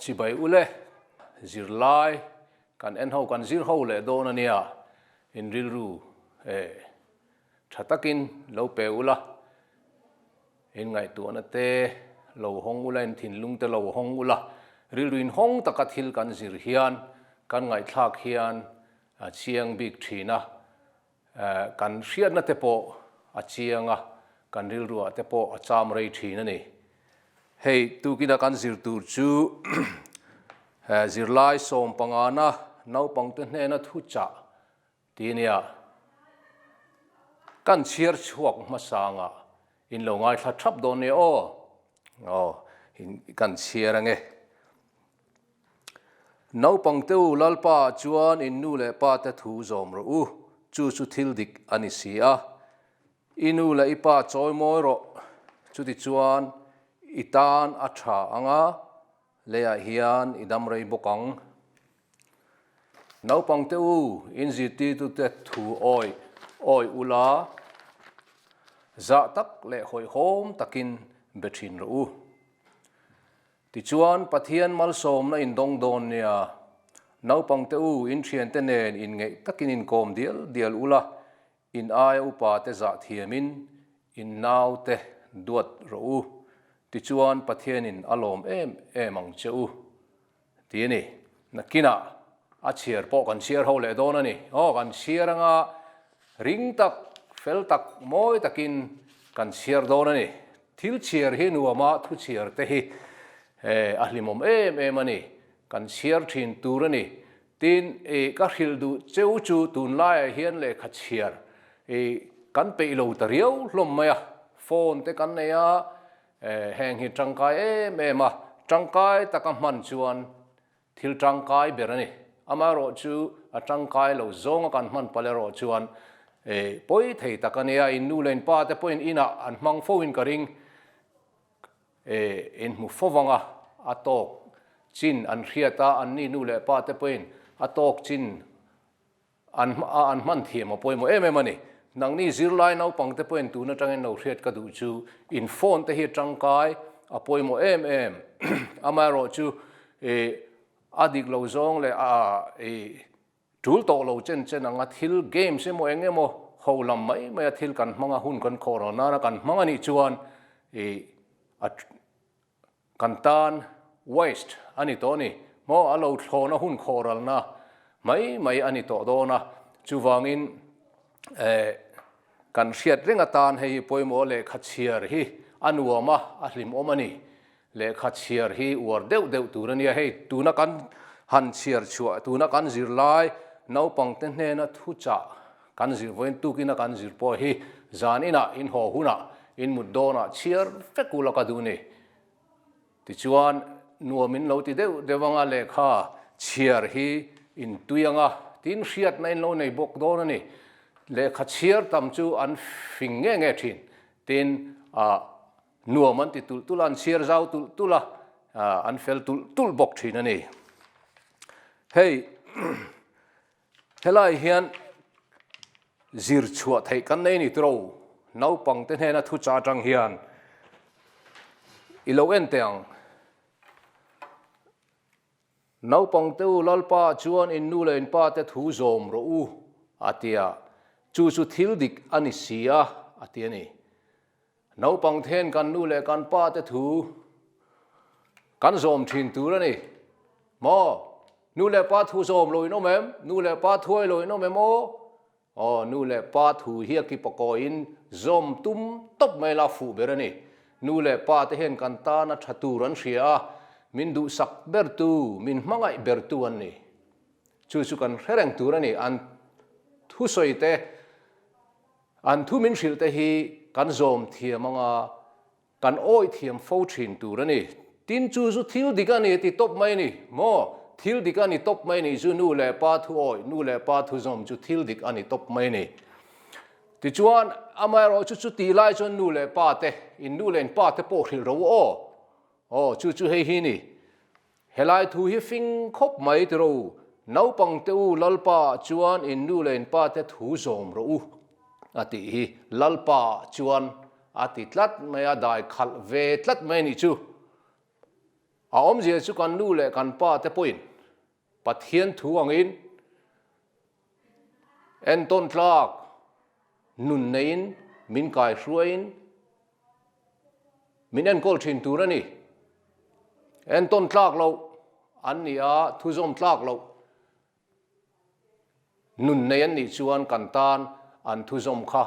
Chibai u le, zirlai kan en ho, kan zir ho leh dawn a nia, in rilru e tha takin lo pe u la. In ngaihtuahna te lo hawng ula, in thinlung te lo hawng ula, rilruin hawng taka thil kan zir hian kan ngaihthlak hian a chiang bik thin a, kan hriatna te pawh a chiang a, kan rilruah te pawh a cham rei thin a ni. Hei tukina kan zir tur chu zirlai sawmpangana naupangte hnena thuchah Ti nia, kan chhiar chhuak hmasanga in lo ngaithla thap dawn nia aw, aw in kan chhiar ange. Naupang te u, Lalpa ah chuan in nu leh pa te thu zawm rawh u, chu chu thil dik a ni si a, i nu leh i pa chawi mawi rawh, chuti chuan i tan a tha anga leiah hian i dam rei bawk ang. Naupangte u, in zirtirtute thu awih awih u la, zah tak leh hawihhawm takin be thin rawh u. Tichuan, Pathian malsawmna indawng dawn nia, naupangte u, in thiante nen inngeih takin inkawm dial dial u la, in aia upate zah thiamin in naute duat rawh u. Tichuan, Pathianin a lawm em em ang che u. Ti a ni. Nakinah a chhiar pawh kan chhiar ho leh dawn a ni. Aw, kan chhiar anga ring tak, fel tak, mawi takin kan chhiar dawn a ni. Thil chhiar hi nuama thu chhiar te hi a hlimawm em em a ni. Kan chhiar thin tur a ni. Tin, ka hrilh duh cheu chu tunlaiah hian lehkha chhiar kan peih lo ta riau hlawm mai a. Phone te kan nei a. E, heng hi tangkai em em a, tangkai tak a hman chuan thil tangkai ber a ni. Amaherawh chu a tangkai lo zawng a kan hman palh erawh chuan e, pawi thei tak a nia, in nu leh in pa te pawhin inah an hmang fo in ka ring e, in hmu fo vang a, a tawk chin an hriat a, an ni nu leh pa te pawhin a tawk chin An hma a an hman thiam a pawimawh em em a ni. Nangni zirlai naupang te pawhin tun atangin lo hriat ka duh chu in phone te hi tangkai a pawimawh em em. Amaherawh chu i a dik lo zawng leh a i tul tawh lo chen chen ang a, thil games emaw eng emaw ho lam mai maia thil kan hmang a, hun kan khawh rau nana kan hmang a nih chuan i a Kan tan, waste, a ni tawh a ni. Hmaw a lo thlawn a hun khawralna mai mai a ni tawh dawn a. Chuvangin eh kan hriat reng atan hei hi pawimawh lehkha chhiar hi a nuam a, a hlimawm a ni. Lehkha chhiar hi uar deuh deuh tur a nia. Hei tuna kan han chhiar chhuah, tuna kan zir lai naupangte hnena thuchah, Kan zir vawiin tuk ina kan zir pawh hi zan inah in haw hunah in mut dawnah chhiar vek u la ka duh ni. Tichuan nuam in lo ti deuh deuh anga lehkha chhiar hi in tui anga tin hriatna in lo nei bawk dawn a ni. Lehkha chhiar tam chu an fing nge nge thin tin ah nuam an ti tulh tulh a, an chhiar zau tulh tulh a, an fel tulh tulh bawk thin a ni. Hei Helai hian zir chhuah theih kan nei ni tiro, naupang te hnena thu cha tang hian ilo en teh ang. Naupang te u Lalpa chuan in nu leh in pa te thu zawm rawh u a tia, chu chu thil dik a ni si a a ti a ni. Naupang then kan nu leh kan pa te thu kan zawm thin tur a ni. Maw? Nu leh pa thu zawm loin awm em? Nu leh pa thuai loin awm em aw? Aw, nu leh pa thu hi a ki pakawin zawm tum tawp mai la fuh ber a ni. Nu leh pa te hian kan tan a tha tur an hria a, min duhsak ber tu, min hmangaih ber tu an ni. Chu chu kan hre reng tur a ni. An thusawi te. An thu min hrilh te hi kan zawm thiam anga kan awih thiam fo thin tur a ni. Tin chu zu thil dik a ni ti tawp mai ni maw? Thil dik a ni tawp mai ni zu nu leh pa thu awih, nu leh pa thu zawm chu thil dik a ni tawp mai ni. Tichuan amaherawh chu chu tih lai chuan nu leh pa te, in nu leh in pa te pawh hrilh ro aw. Aw, chu chu hei hi ni. Helai thu hi fing khawp mai ti rawh u, naupang te u Lalpa ah chuan in nu leh in pa te thu zawm rawh u a tih hi Lalpa ah chuan a ti tlat mai a, dai khalh ve tlat mai a nih chu. A awmzia chu kan nu leh kan pa te pawhin Pathian thu angin, En tawn tlak nun neiin min kai hruaiin min enkawl thin tur a ni. En tawn tlak lo an ni a, thu zawm tlak lo nun nei an nih chuan kan tan an thu zawm kha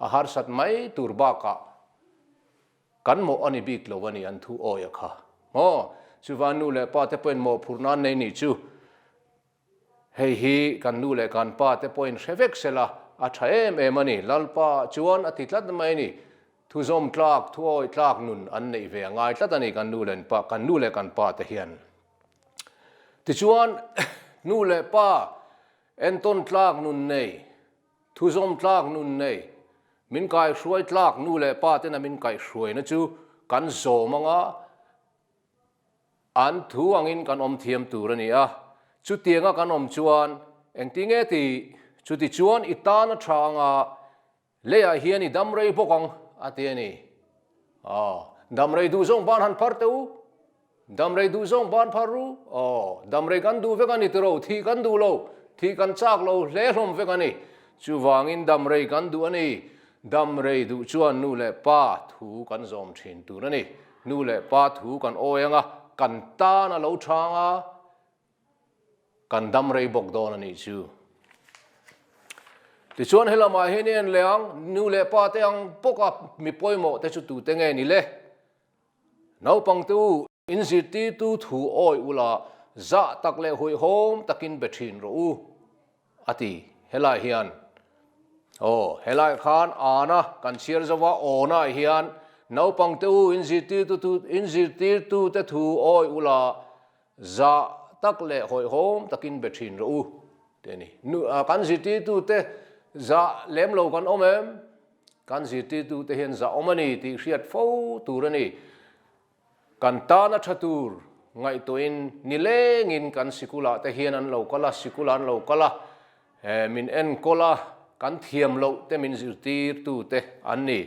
a harsat mai tur bakah kan mawh a ni bik lo a ni an thu awia kha. Aw, chuva nu leh pa te pawhin mawhphurh nan nei ni chu Hei hi kan nu leh kan pa te pawhin hre vek se la, a tha em em a ni. Lalpa chuan a ti tlat mai a ni. Thuzawm tlak, thuawi tlak nun an neih ve a ngai tlat a ni kan nu leh pa, kan nu leh kan pa te hian. Tichuan, nu leh pa entawn tlak nun nei, thuzawm tlak nun nei, min kaihruai tlak nu leh pa tena min kaihruaina chu kan zawm anga An thu angin kan awm thiam tur a ni a, chutianga kan awm chuan engti nge ti? Chuti chuan i tan a tha anga leiah hian i dam rei bawk ang a ti a ni. Aw, dam rei duh zawng ban han phar teh u, dam rei duh zawng ban phar u, aw, dam rei kan duh vek a ni tiro, thih kan duh lo, thih kan chak lo, hle hlawm vek a ni, chuvangin dam rei kan duh a ni. Dam rei duh chuan nu leh pa thu kan zawm thin tur a ni. Nu leh pa thu kan awi ang a, kan tan a lo chang a, kan dam rei bawk dawn a nih chu. Tichuan he lamah hian i en leh ang, nu leh pa te ang bawk a, mi pawimawh te chu tute nge ni le? Naupangte u. In zirtirtu thu awi ula zah tak leh huaihawm takin be thin rawh u, a ti. Helai hian, Aw, helai khan ana kan chhiar zo a, awnai hian, Naupang te u, in zirtirtu tu, in zirtirtute thu awi ula zah tak leh huaihawm takin be thin rawh u, ti a ni. Nu, kan zirtirtute zah lem lo kan awm em? Kan zirtirtute hian zah awm a ni tih hriat fo tur a ni. Kan tana tha tur ngaihtuahin ni lengin kan sikula te hian an lo kal a, sikula an lo kal a, min enkawl a, kan thiam loh te min zirtir tu te an ni.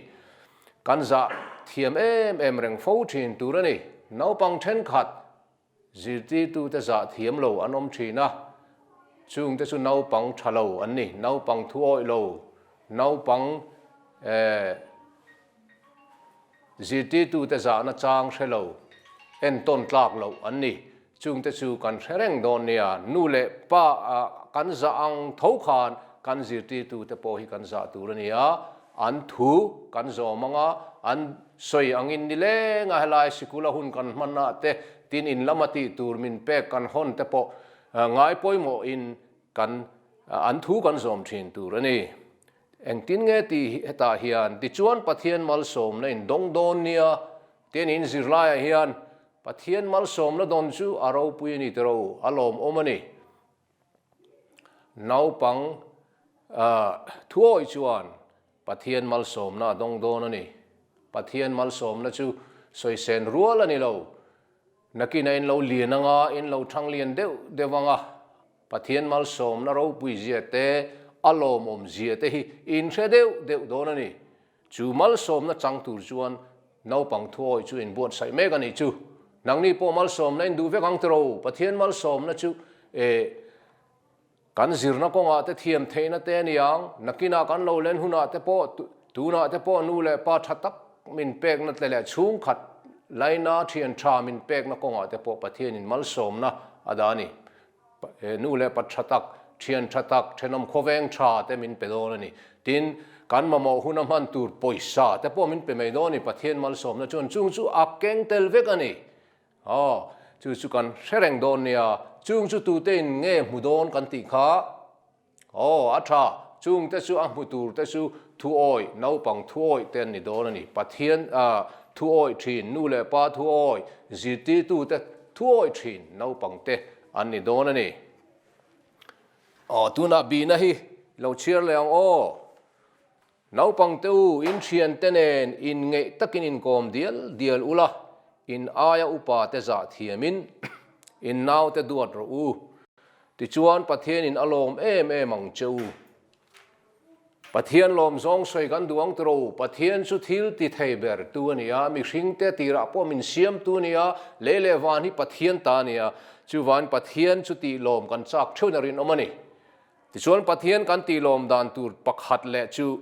Kan zah thiam em em reng fo thin tur a ni. Naupang thenkhat Zirtirtute zah thiam lo an awm thin a, chungte chu naupang tha lo an ni, naupang thu awih lo, naupang eh zirtirtute zahna chang hre lo, en tawn tlak lo an ni. Chungte chu kan hre reng dawn nia, nu leh pa ah kan zah ang tho khan kan zirtirtute pawh hi kan zah tur a ni a, An thu kan zawm ang a, an sawi angin ni leng a helai sikula hun kan hman ah te tin in lama tih tur min pek kan hawn te pawh ngai pawimawh in kan an thu kan zawm thin tur a ni. Engtin nge ti hetah hian tichuan Pathian malsawmna in dawng dawn nia ti an in zir lai ah hian Pathian malsawmna dawn chu a ropui a ni tiraw a lawmawm a ni. Naupang Thuawi chuan Pathian malsawmna a dawng dawn a ni. Pathian malsawmna chu sawisen rual a ni lo. Nakina in lo lian anga in lo thang lian deuh deuh anga Pathian malsawmna ropui zia te, a lawmawm zia te hi in hre deuh deuh dawn a ni. Chu malsawmna chang tur chuan naupang thuawi chu in buatsaih mek a nih chu. Nangni pawh malsawmna in duh vek ang tiraw? Pathian malsawmna chu eh kan zirna kawngah te thiam theihna te a ni ang. Nakinah kan lo len hunah te pawh, tunah te pawh nu leh pa tha tak min pekna te leh chhungkhat laina thian tha min pekna kawngah te pawh Pathianin malsawmna a dah a ni. He nu leh pa tha tak, thian tha tak, thenawm khawveng tha te min pe dawn a ni. Tin, kan mamawh hun a hman tur pawisa te pawh min pe mai dawn a ni. Pathian malsawmna chuan chung chu a keng tel vek a ni. Aw, chu chu kan hre reng dawn nia. Chung chu tutein nge hmu dawn kan tih kha? Aw, a tha, chung te chu a hmu tur te chu Thuawi, naupang Thuawi te an ni dawn a ni. Pathian a, Thuawi thin, nu leh pa Thuawi, zirtirtu te Thuawi thin, naupang te an ni dawn a ni. Aw, tunah bina hi lo chhiar leh ang aw. Naupangte u, inthiante nen inngeih takin inkawm dial dial ula, in aia upate zah thiamin innaute duat rawh u. Tichuan, Pathianin a lawm em em ang che u. Pathian lawm zawng sawi kan duh ang tiraw? Pathian chu thil ti thei ber tu a nia, mihringte tirah pawh min siam tu a nia, lei leh van hi Pathian ta a nia. Chuvain Pathian chuti lawm kan chak theuhna rinawm a ni. Tichuan Pathian kan tih lawm dan tur pakhat leh chu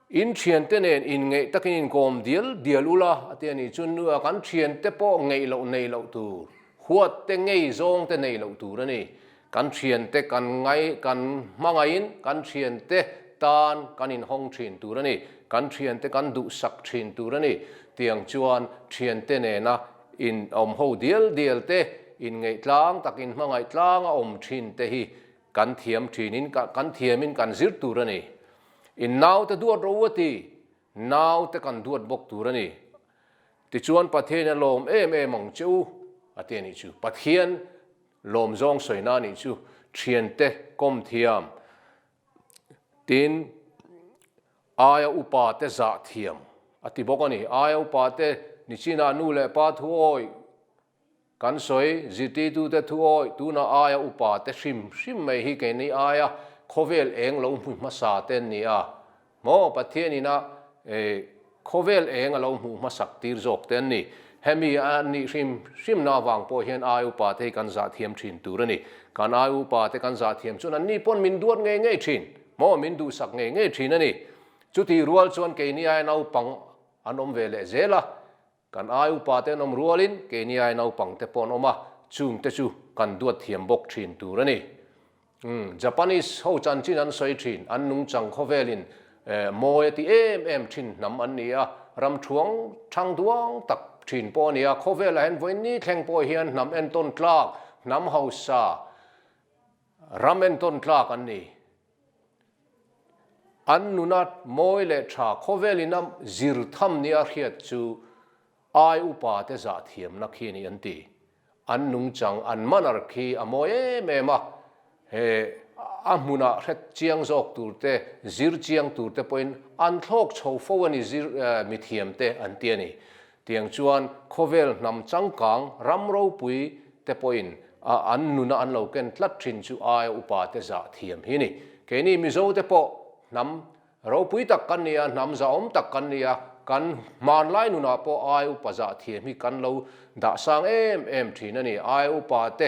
in thiante nen in ngeih takin in kawm dial dial ula a ti a ni. Chun nu a kan thiante pawh ngeih loh nei loh tur, huat te ngei zawng te nei loh tur a ni. Kan thiante kan ngai kan hmangaih in kan thiante tan kan in hawng thin tur a ni. Kan thiante kan duhsak thin tur a ni. Tiang chuan thiante nena In a awm ho dial dial te, in ngeihtlang tak, in hmangaih tlang a awm thin te hi kan thiam thin in, kan thiam in kan zir tur a ni. In naute duat ro a ti, naute kan duat bawk tur a ni. Tichuan Pathian a lawm em em ang che u a ti a nih chu. Pathian lawm zawng sawina a nih chu. Thiante, kawm thiam, Tin, aia upa te zah thiam a ti bawk a ni. Aia upa te, Nichina nu leh pa thu awih, kan sawi, zirtitu te thu awih, tunah aia upa te hrim hrim mai hi kei ni aia khawvel eng lo hmu hmasa te an ni a. Maw Pathian ina khawvel eng a lo hmuh hmasak tir zawk te an ni. Hemi an nih hrim hrimna avang pawh hian ai upa te hi kan zahthiam thin tur a ni. Kan ai upa te kan zahthiam chuan an ni pawn min duat ngei ngei thin maw min duhsak ngei ngei thin a ni. Chutih rual chuan kei ni aia naupang an awm ve leh zel a, Kan ai upa te an awm rualin keiniai naupang te pawh an awm a, chung te chu kan duat thiam bawk thin tur a ni. Umm, Japanese ho chanchin an sawi thin, an nungchang khawvelin eh, mawi a ti em em thin hnam an ni a, ramṭhuang ṭhang duang tak thin pawh a ni a, khawvel ah hian vawiinni thleng pawh hian hnam entawn tlak, hnam hausa ram entawn tlak an ni. An nuna mawi leh tha khawvel in am zir tham nia hriat chu ai upa te zah thiamna khi a ni an ti. An nungchang, an manner khi a mawi em em a, he a hmunah hret chiang zawk tur te, zir chiang tur te pawhin an thlawk chho fo a ni zir mithiam te an ti a ni. Tiang chuan khawvel hnam changkang ram ropui te pawhin a an nuna an lo ken tlat thin chu aia upa te zah thiam hi a ni. Keini Mizo te pawh hnam ropui tak kan ni a, hnam zahawm tak kan ni a, kan hmanlai nunah pawh aia upa zah thiam hi kan lo dahsang em em thin a ni. Aia upa te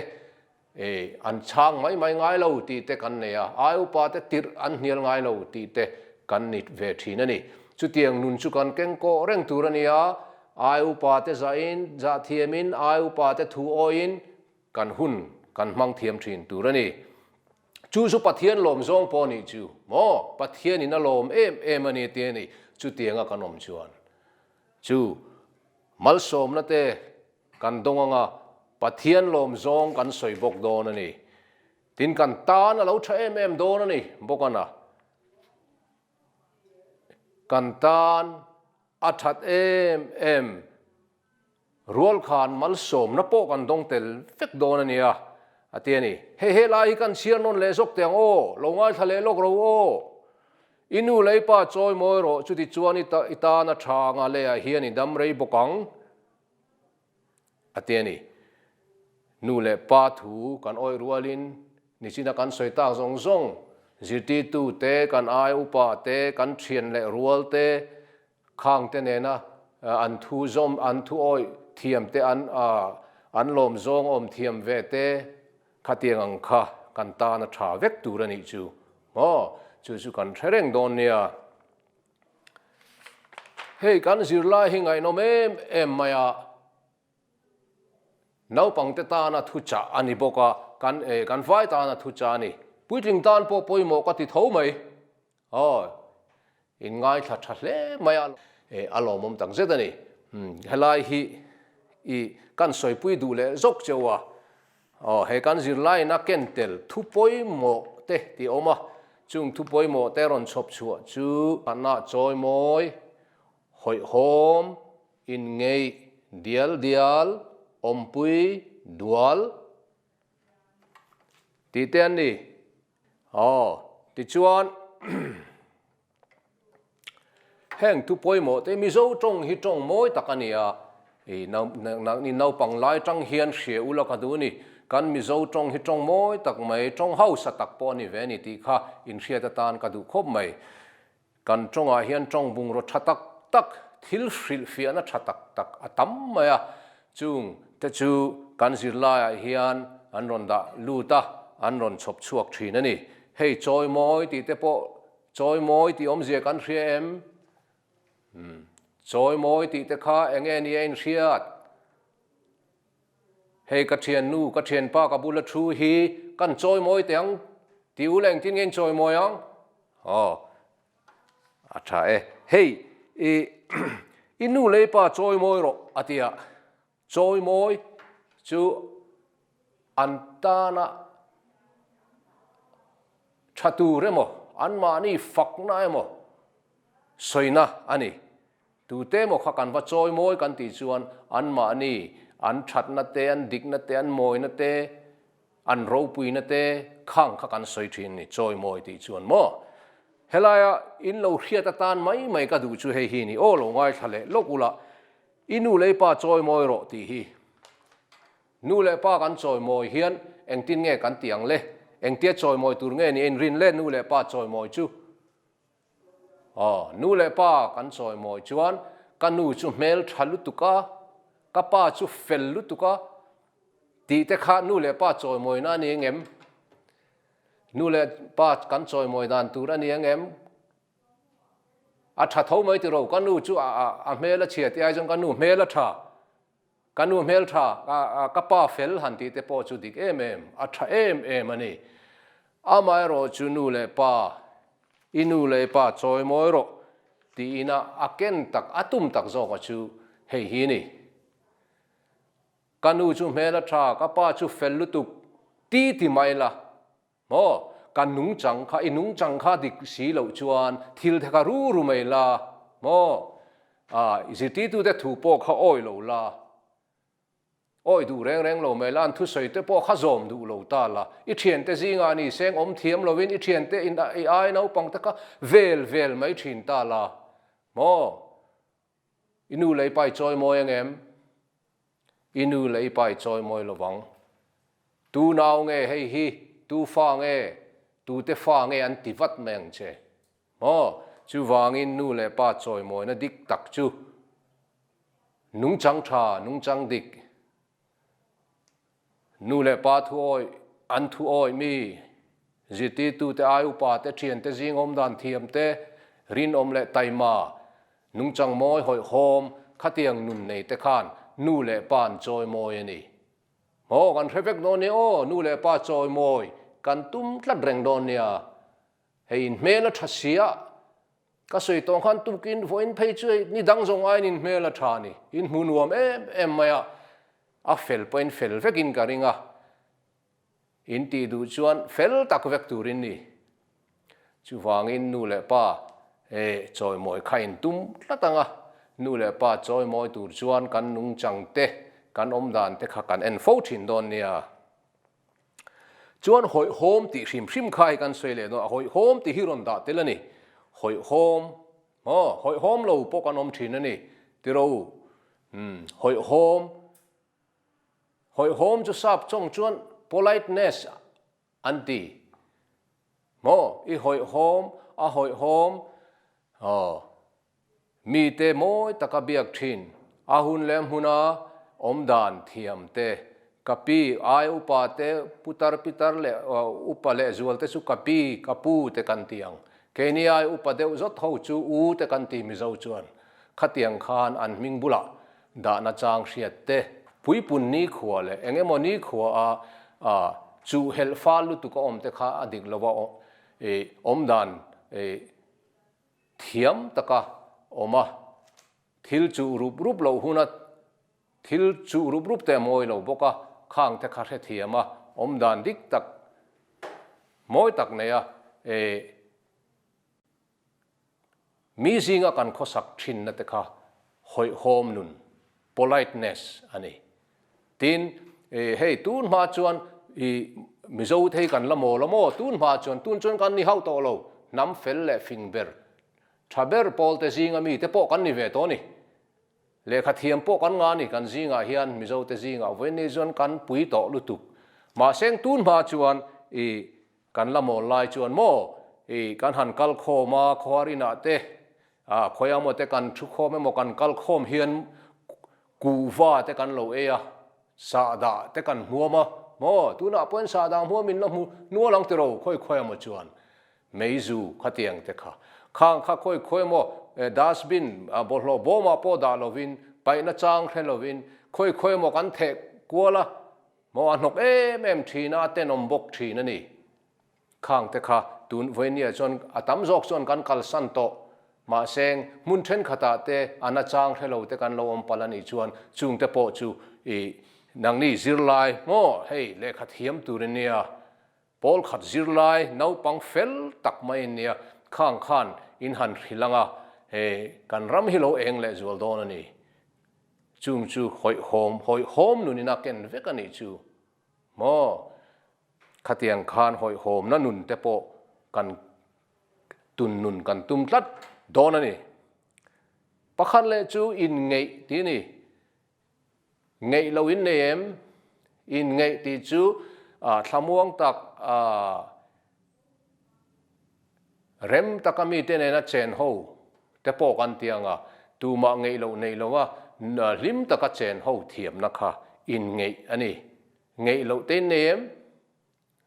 Ei an chhang mai mai ngai lo tih te kan nei a, ai upa te tirh an hnial ngai lo tih te kan ni ve thin a ni. Chutiang nun chu kan keng kawh reng tur a nia, ai upa te zahin, zah thiamin, ai upa te thu awiin kan hun kan hmang thiam thin tur a ni. Chu chu Pathian lawm zawng pawh a nih chu maw? Pathianin a lawm em em a ni tih a ni. Chutianga kan awm chuan chu malsawmna te, Kan dawng ang a, Pathian lawm zawng kan sawi bawk dawn a ni. Tin, kan tan a lo tha em em dawn a ni bawk an a. Kan tan a that em em, rualkhan malsawmna pawh kan dawng tel vek dawn a nia, a ti a ni. Hei, he lai hi kan chhiar nawn leh zawk teh ang aw, lo ngaithla leh lawk ro aw. I nu lei pa chawi mawi rawh, chutichuan i tan a tha anga leiah hian i dam rei bawk ang. a ti a ni. Nu leh pa thu kan awih rualin nichina kan sawi tak zawng zawng, zirtirtute, kan ai upa te, kan thian leh rual te, khangte nena an thu zawm, an thu awih thiam te, an an lawm zawng awm thiam ve te khatiang ang kha kan tana tha vek tur a nih chu maw? Chu chu kan hre reng dawn nia. Hei kan zirlai hi ngaihnawm em em mai a, naupangte tana thuchah a ni bawk a, kan eh kan vai tana thuchah a ni. Puitling tan pawh pawimawh ka ti tho mai, aw in ngaithla tha hle mai a, eh a lawmawm tak zet a ni, helai hi i kan sawipui duh leh zawk che u a. Aw, he kan zirlaina ken tel thu pawimawh te tih a awm a, chung thu pawimawh te rawn chhawp chhuah chu hmanna chawi mawi, hawihhawm, inngeih, dial dial, awmpui, dual tih te an ni. Aw, tichuan. Heng thu pawimawh te Mizo tawng hi tawng mawi tak a ni a, i naupang lai tang hian hria ula ka duh ni, kan Mizo tawng hi tawng mawi tak mai, tawng hausa tak pawh a ni ve a ni tih kha inhriat atan ka duh khawp mai. Kan tawngah hian tawng bungraw tha tak tak, thil hrilh fiahna tha tak tak a tam mai a, chung te chu kan zirlaiah hian an rawn dah lut a, an rawn chhawp chhuak thin a ni. Hei chawi mawi tih te pawh Chawi mawi tih awmzia kan hria em? Umm, chawi mawi tih te kha eng nge nia in hriat? Hei ka thiannu, ka thianpa ka bula thu hi kan chawi mawi teh ang ti ula engtin nge in chawi mawi ang? Aw, a tha e. Hei, i i nu lei pa chawi mawi rawh a tia. Chawi mawi chu an tana tha tur emaw, an mahni fakna emaw sawina a ni. Tute emaw kha kan va chawi mawi kan tih chuan an mahni an thatna te, an dikna te, an mawina te, an ropuina te kha ang kha kan sawi thin a ni, chawi mawi tih chuan maw. Helaia in lo hriat atan mai mai ka duh chu hei hi a ni, aw lo ngaithla leh lawk ula I nu leh i pa chawi mawi rawh tih hi. Nu leh pa kan chawi mawi hian engtin nge kan tih ang le? Engtia chawi mawi tur nge nia in rin le nu leh pa chawi mawi chu? Aw, nu leh pa kan chawi mawi chuan ka nu chu hmel tha lutuk a, ka pa chu fel lutuk a tih te kha nu leh pa chawi mawina a ni ang em? Nu leh pa kan chawi mawi dan tur a ni ang em? A tha tho mai tiro, ka nu chu a hmel a chhiat i ai chuan ka nu hmel a tha, ka nu hmel tha, ka pa fel han tih te pawh chu dik em em, a tha em em a ni. Amaherawh chu nu leh pa, i nu leh i pa chawi mawi rawh tiin a a ken tak, a tum tak zawk a chu hei hi a ni. Ka nu chu hmel a tha, ka pa chu fel lutuk ti ti mai la. Maw? Kan nung chang kha, i nung chang kha dik si loh chuan thil te kha ru ru mai la, maw? Aah, i zirtirtute thu pawh kha awih lo la, awih duh reng reng lo mai la, an thusawi te pawh kha zawm duh lo ta la, i thiante zingah ni se engawm thiam lovin i thiante in i ai naupangte kha vel vel mai thin ta la, maw? I nu lei pai chawi mawi ang em? I nu lei pai chawi mawi lo vang. Tu nau nge hei hi, tu fa nge, tute fa nge an ti vat mai ang che. Maw? Chuvangin nu leh pa chawi mawina dik tak chu nungchang tha, nungchang dik, Nu leh pa thu awih, an thu awih mi, zirtirtute ai upate, thiante zingawm dan thiamte, rinawm leh taima, nungchang mawi hawih hawm, khatiang nun neite khan nu leh pa'n chawi mawi a ni. Maw kan hre vek dawn nia aw, nu leh pa chawi mawi kan tum tlat reng dawn nia. Hei in hmel a tha siah Ka sawi tawng khan tukin vawiin phei chu hei ni dang zawng aiin in hmel a tha a ni. In hmu nuam em em mai a, a fel pawhin fel vekin ka ring a, in tih duh chuan fel tak vek turin ni. Chuvangin nu leh pa he chawimawi kha in tum tlat ang a, nu leh pa chawimawi tur chuan kan nungchangte, kan awmdante kha kan en fo thin dawn nia. Chuan hawihhawm tih hrim hrim kha hi kan sawi leh dawn a, hawihhawm tih hi rawn dah tel a ni. Hawihhawm haw, hawihhawm lo pawh kan awm thin a ni, tiro u. Umm, hawihhawm, hawihhawm chu sap chawng chuan politeness an ti maw? I hawihhawm, a hawihhawm, aw. Mite mawi taka biak thin, a hun leh hmuna awm dan thiam te, ka pi, ai upa te, putar, pitar leh upa leh zual te chu ka pi, ka pu te kan ti ang. Keini ai upa deuh zawt ho chu u te kan ti mizo chuan khatiang khan an hming bulah dah nachang hriat te, puipun nikhua leh eng emaw nikhua a a chuh helh fal lutuk a awm te kha a dik lo a, awmdan Thiam taka awm a, thil chuh rup rup loh hun a, thil chuh rup rup te a mawi lo bawk a, khang te kha hrethiam a, awm dan dik tak, mawi tak nei a, eh, mi zinga kan khawsak thinna te kha hawihhawm nun, politeness, a ni. Tin, i, hei tun hma chuan, i, Mizo te hi kan la maw la maw tun hma chuan, tun chuan kan ni hauh tawh lo, hnam fel leh fing ber, tha ber pawl te zinga mi te pawh kan ni ve tawh ni. Lehkha thiam pawh kan nga ni, kan zingah hian Mizo te zingah vawiin ni chuan kan pui tawh lutuk. Mahse heng tun hma chuan, i, kan la mawl lai chuan maw, i, kan han kal khawm a, khuarinah te, a, khawi amaw te kan thu khawm emaw kan kal khawm hian, Kuhva te kan lo ei a, sahdah te kan hmuam a, maw tunah pawhin sahdah hmuamin la hmu nual ang tiro khawi khawi a maw chuan meizu khatiang te kha khang kha khawi khawi maw eh dustbin a bawlhhlawh bawmah pawh dah lovin paihna chang hre lovin khawi khawi maw kan theh kual a maw a hnawk em em thin a a tenawm bawk thin a ni Khang te kha tun vawinia chuan a tam zawk chuan kan kalsan tawh. Mahse, hmun thenkhatah te an achang hre lo te kan lo awm palh a nih chuan chung te pawh chu i nangni zirlai maw hei lehkha thiam turin nia pawl khat zirlai naupang fel tak maiin nia Khang khan in han hrilh anga he kan ram hi lo eng leh zual dawn a ni. Chung chu hawihhawm hawihhawm nunin a ken vek a nih chu. Maw? Khatiang khan hawihhawmna nun te pawh kan tun nun kan tum tlat dawn a ni. Pakhat leh chu in ngeih tih a ni. Ngeih lo in nei em? In ngeih tih chu thlamuang tak Rem taka mite nena chen ho te pawh kan ti anga tumah ngeihloh neiloa hlim taka chen ho thiamna kha inngeih a ni. Ngeihloh tei nei em?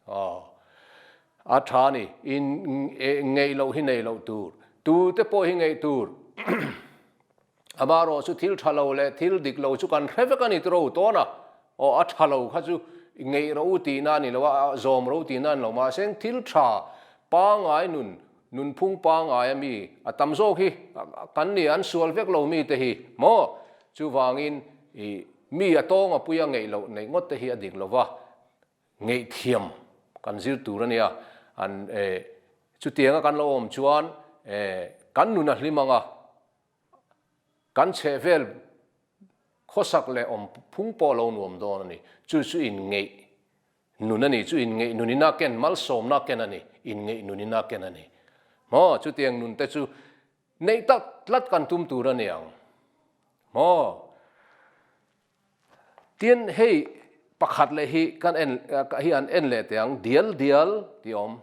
Aw, a tha a ni. Inngeihloh hi neiloh tur. Tute pawh hi ngeih tur. Amarawh chu thil tha lo leh thil dik lo chu kan hre vek a ni tu ro tawn a, aw a tha lo kha chu ngeih ro u tihna a ni lo a, a zawm ro tihna a ni lo mahse thil tha pangai nun, nunphung pangai a mi a tam zawk hi kan nih an sual vek lo mi te hi maw? Chuvangin i mi a tawng a pui a ngeih loh neih ngawt te hi a dik lo va, ngeihthiam kan zir tur a nia an e chutianga kan lo awm chuan e kan nun a hlim ang a, Kan chheh vel khawsak leh awm phung pawh lo nuam dawn a ni. Chu chu inngeih nun a ni, chu inngeih nun in a ken, malsawmna a ken a ni, inngeih nun in a ken a ni. Maw? Chutiang nun te chu neih tak tlat kan tum tur a niang. Maw? Tin, hei pakhat leh hi kan en, hi an en leh teh ang, dial dial tih a awm.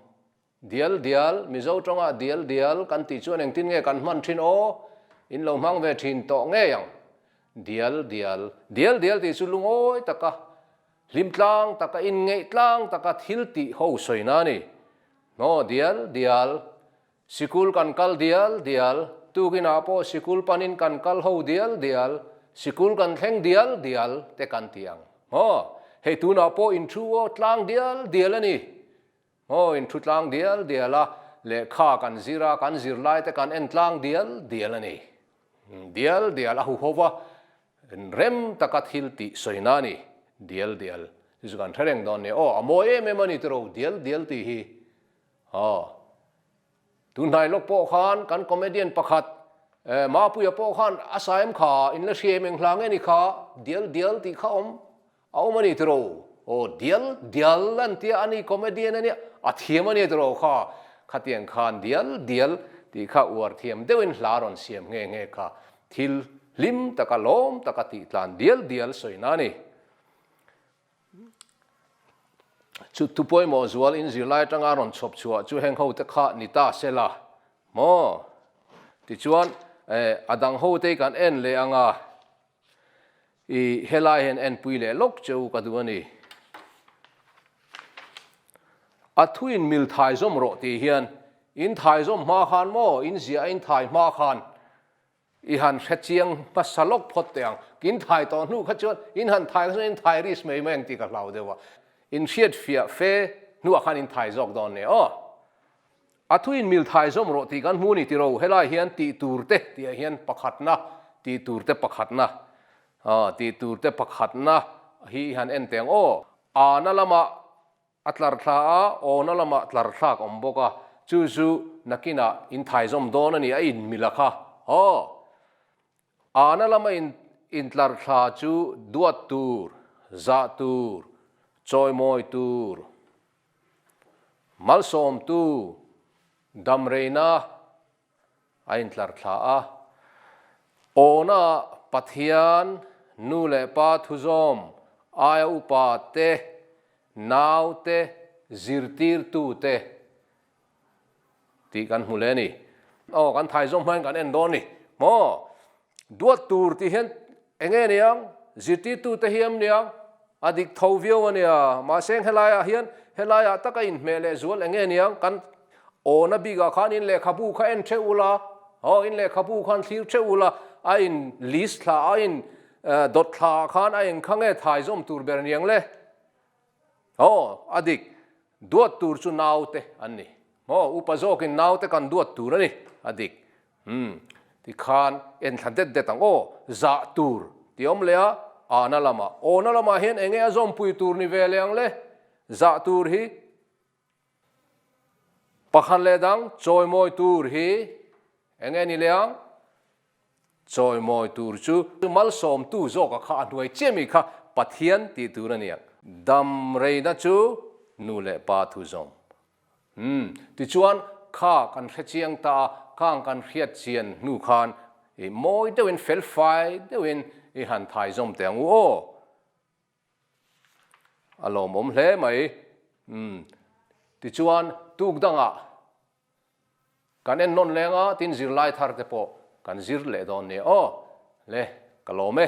Dial dial, Mizo tawngah dial dial kan tih chuan engtin nge kan hman thin aw? In lo hmang ve thin tawh ngei ang. Dial dial, Dial dial tih chu lungawi taka, hlim tlang taka, inngeih tlang taka thil tih ho sawina a ni. Hnaw dial dial, Sikul kan kal dial dial, tukinah pawh sikul panin kan kal ho dial dial, sikul kan thleng dial dial te kan ti ang. Hnaw, Hei tunah pawh in thu aw tlang dial dial a ni. Hmawin thu tlang dial dial a, lehkha kan zir a, kan zirlai te kan en tlang dial dial a ni. Dial dial a huho va, rem taka thil tih sawi na a ni. Dial dial. Chu chu kan tha reng dawn nia. Aw, a mawi em em a ni tiro, dial dial tih hi. Aw. Tun hnai lawk pawh khan kan comedian pakhat eh Mapuia pawh khan a sa em kha in la hriaim eng hla nge ni kha dial dial tih kha awm a awm a ni tiraw aw dial dial a ni tia ani comedian ania a thiam ania tiraw kha khatiang khan dial dial tih kha uar thiam deuh in hla rawn siam nghe nghe kha thil hlim taka lawm taka tih tlan dial dial sawi na a ni. Chu thu pawimawh zual in zirlai atanga rawn chhawp chhuah chu heng hote kha ni ta se la maw? Tichuan eh a dang hote hi kan en leh anga i helai hian enpui leh lawk che u ka duh a ni. A thu in mil thaizawm rawh tih hian in thaizawm hma khan maw in ziah a in thai hma khan I han hre chiang hmasa lawk phawt teh ang. Kin thai tawh hnu kha chuan in han thai kha chuan in thai ris mai mai ang tih ka hlau deuh a. In hriatfiah fe hnuah khan in thai zawk dawn nen aw. A thu in mil thai zawm rawh tih kan hmu a ni tiro. Helai hian tih tur te tih ah hian pakhatna, tih tur te pakhatna, aw tih tur te pakhatna hi i han en teh ang aw. Ahna lamah A tlar thla a, awna lamah tlar thlak awm bawk a, chu zu nakinah in thaizawm dawn a ni, a in milak a, haw! Ana lama in in tlar thla chu duat tur, zah tur, chawimawi tur, malsawm tu, damreina, A intlar thla a, Awhnaah Pathian, Nu leh Pa Thuzawm, aia upa te, nau te, zirtirtu te tih kan hmu leh a ni. Aw, kan thaizawng hman kan en dawn a ni maw? Duat tur tih hian eng nge ni ang? Zirtirtute hi em ni ang? A dik tho viau a nia. Mahse eng helaiah hian helaiah taka inhmeh leh zual eng nge ni ang? Kan awna bikah khan in lehkhabu kha en ṭheh ula, haw, in lehkhabu khan thlir ṭheh ula, a in list thla, a in dawt thla khan a engkha nge thaizawm tur ber ni ang le? Haw, a dik. Duat tur chu naute an ni. Haw, upa zawkin naute kan duat tur a ni, a dik. Umm, tikhan en thla det det ang aw, zah tur, ti awm leh a, ahna lamah, awna lamah hian enge a zawmpui tur ni ve leh ang le? Zah tur hi Pakhat leh dang chawimawi tur hi eng nge ni le ang? Chawimawi tur chu malsawmtu zawka kha a hnuai chiah mi kha Pathian tih tur a ni ang. Dam reina chu nu leh pa thu zawm. Umm, tichuan kha kan hre chiang ta a, khang kan hriat chian hnu khan i mawi deuhin, felfai deuhin i han thaizawm teh ang u aw. A lawmawm hle mai. Umm. Tichuan tuk dangah kan en nawn leng a, tin zirlai thar te pawh kan zir leh dawn nia aw. Hle, ka lawm e.